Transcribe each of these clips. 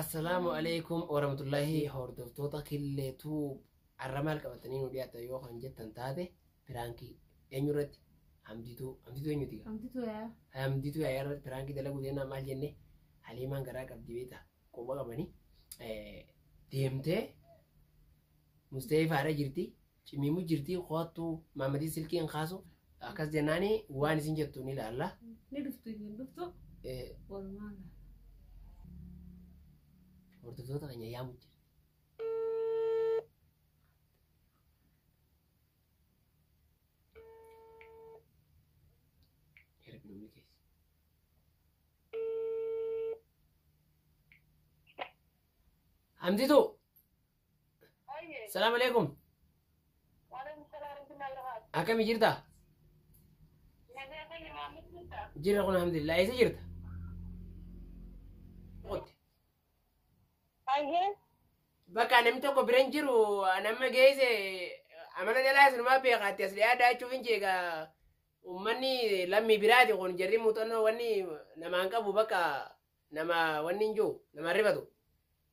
Assalaamu alaikum warahmatullahi hordoftoota killeetuu arra maal qabatanii nu dhiyaatan yoo kan jettan taate piraankii eenyu irratti hamdituu hamdituu eenyuti gaa Hamdituu yaa. hamdituu yaa irratti piraankii dalaguu deemnaa maal jenne haliimaan garaa qabdi beekta quba qabanii deemtee musteefaa irra jirti Cimiimu jirtii koottu maamatii silkii hin kaasu akkas jennaani waan isin jettu ni ilaalla. Ni dhuftu iyyuu hin dhuftu. Eh, Walumaa gala. Hordoftoota keenya yaamu jira. Erga namni keessa. Hamditu Ayyee. Salaam alaikum. Waalaikum salaam warahmatullahi wabarakatuh. Akkami jirta? Nagaa fayya maamilli jirta. Jirra kun alhamdulillah. Eessa jirta? Qotti. Ayyee. Bakka namni tokko bira hin jiru nama geesse amala jalaa isinumaa beekaatti as dhiyaa daachuuf hin jeega. Uummanni lammii biraati kun jarri muuxannoo wanni namaan qabu bakka nama wanni hin jiru namaan rifatu.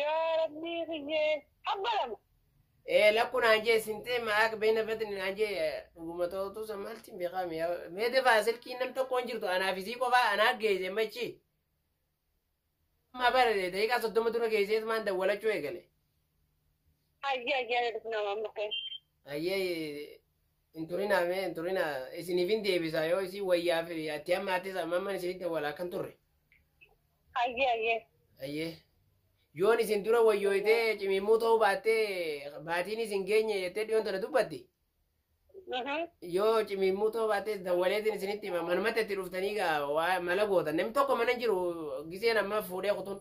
Yaa rabbii kiyyee abba lama. Ee lakku naan jee sintee ma'aak beena fetni naan jee dhuguma ta'utu san maaltiin beekaami yaa meete fa'a silkiin nam tokko hin jirtu anaaf isii qofaa anaa geeyse machi. Amma bara daqiiqaa soddoma dura geeyseet maan dawwalachuu eegale. Ayyaa ayyaa jedhu nama amma ta'e. Ayyee hin turinaa mee hin turinaa isiniif hin deebisaa yoo isin wayyaaf atti amma attis amma amma isinitti wal akkan turre Ayyee ayyee. ayyee yoon isin dura wayyooytee cimimmuu ta'uu baattee baatiin isin geenye jettee dhiyoon tana dubbatti Mhm. yoo cimimmuu ta'uu baattee dawwaleetiin isinitti hima manumatti itti dhuftanii gaa waa mala gootan namni tokko mana hin jiru giseen amma fuudhee kutuun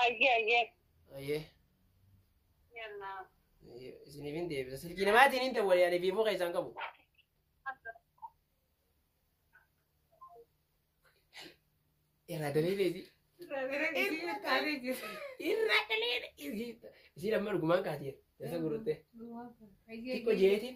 Ayyee ayyee. ayyee Yallaa. Isiniif hin deebisa. Silkii namaatiin hin ta'u walii ani viivoo keessaan qabu. Irraa daleelee isii. Irraa daleelee isii. Isii lamma dhugumaan kaatee. Dasa guruttee. Xiqqoo jeetiin.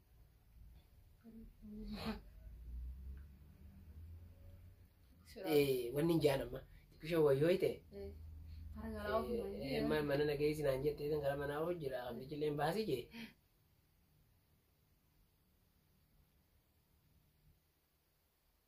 wanni hin jaan amma xiqqishoo wayyoo ta'e mana nageessi naan jettee san gara manaa hojjira abdichilleen baasii jee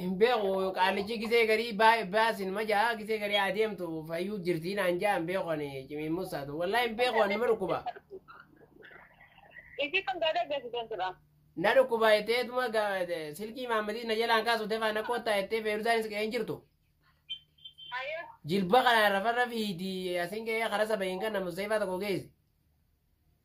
hin beeku qaallichi gisee garii baa- baasin ma jaa gisee garii haa deemtu fayyuu jirtii naan jaa hin beeku ani cimii musaatu wallaa hin beeku ani ma dhukkuba Isi kan gada gasi dan sila. na dhukkuba jetteetuma ga- silkii maammadii na jalaan kaasu tefaa na koottaa jettee feerusaanis qe'ee hin jirtu Ayo. jilba kana rafarra fiiti asin qe'ee kara saba hin kanna museefaa tokko geessi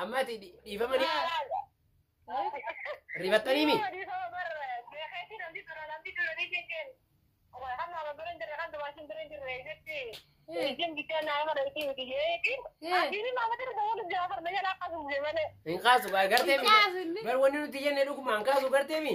Amma ati dhi- dhiifama ni rifattanii mi? Hin kaasu gaa gartee mi? Kaasu inni. Bar wanni nuti jenne dhuguma hin kaasu gartee mi?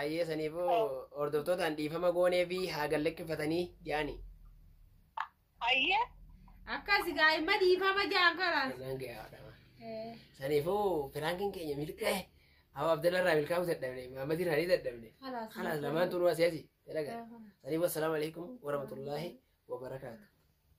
Ayyee saniifuu hordoftootaan dhiifama goonee fi haa gallakkifatanii jaani. Ayyee. Akkas gaa'imma dhiifama jaan karaa. Naan gahaa dhama. Saniifuu piraankiin keenya milqee Abu Abdalla irraa milkaa'uu dadhabne Muhammad irraa ni dadhabne. Kalaas. Kalaas lamaan tunuu asii asii. Dalagaa. Saniifuu assalaamu alaikum warahmatullaahi wabarakaatu.